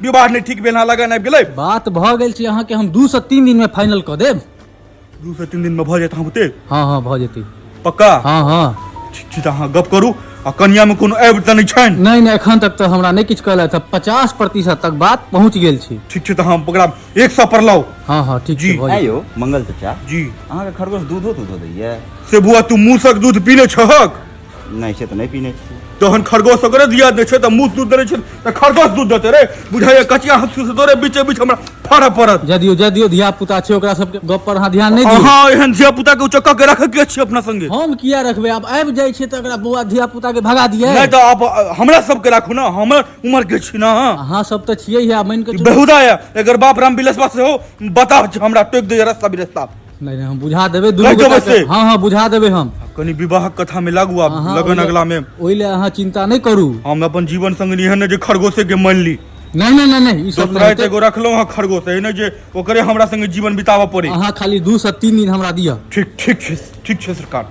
विवाह नहि ठीक भेल हँ लगन आबि गेलै बात भऽ गेल छै अहाँके हम दू से तीन दिन में फाइनल कऽ देब दू से तीन दिन में भऽ जायत अहाँ बुते हँ हँ भऽ जेतै पक्का हँ हँ ठीक छै तऽ अहाँ गप करू आ कनिया में कोनो आबि तऽ नहि छनि नहि नहि एखन तक तऽ हमरा नहि किछु कहलथि हँ पचास प्रतिशत तक बात पहुँच गेल छै ठीक छै तऽ अहाँ ओकरा एक सए पर लाउ हँ हँ ठीक जी। छै भऽ आँय जेतै यौ मंगल चाचा जी अहाँके खरगोश दूधो तूधो दैया से बुआ तू मूसक दूध पीले छहक नहि छै तऽ नहि पीने छी तहन खरगोश ओकरे दिया दै छै तऽ मुँह दूध देने छै तऽ खरगोश दूध देतै रे बुझाइए कचिया हंसू से तोरे बीचे बीच हमरा फाड़ऽ पड़त जा दियौ जा दियौ धिया पुता छै ओकरा सबके गप पर अहाँ ध्यान नहि दियौ अहाँ एहन धिया पुता के उचक्का के रखे के छी अपना संगे हम किया रखबै आब आबि जाइ छै तऽ एकरा बौआ धिया पुता के भगा दियै नहि तऽ आप अ, हमरा सबके राखू ना हमर उम्र के छी ना अहाँ सब तऽ छियै हे मानि कऽ चलू। बेहुदा है एकर बाप राम बिलसवा से हो बताब हमरा टोक दे रास्ता बिरस्ता नहीं नहीं हम बुझा देबे दुनू लग गोटा जाबे के- से। हाँ हाँ बुझा देबे हम कनी विवाहक कथा में लागू आब अहाँ लगन ओइले- अगला में ओइले अहाँ चिंता नहीं करू हम अपन जीवन संग एहन ने जे खरगोशे के मान ली नहीं नहीं नहीं नहीं ई सब दोसरा नहीं एते गो रखलहुँ हँ खरगोश एहन ने जे ओकरे हमरा संगे जीवन बिताबऽ पड़े अहाँ खाली दू से तीन दिन हमरा दिअ ठीक ठीक छै ठीक छै सरकार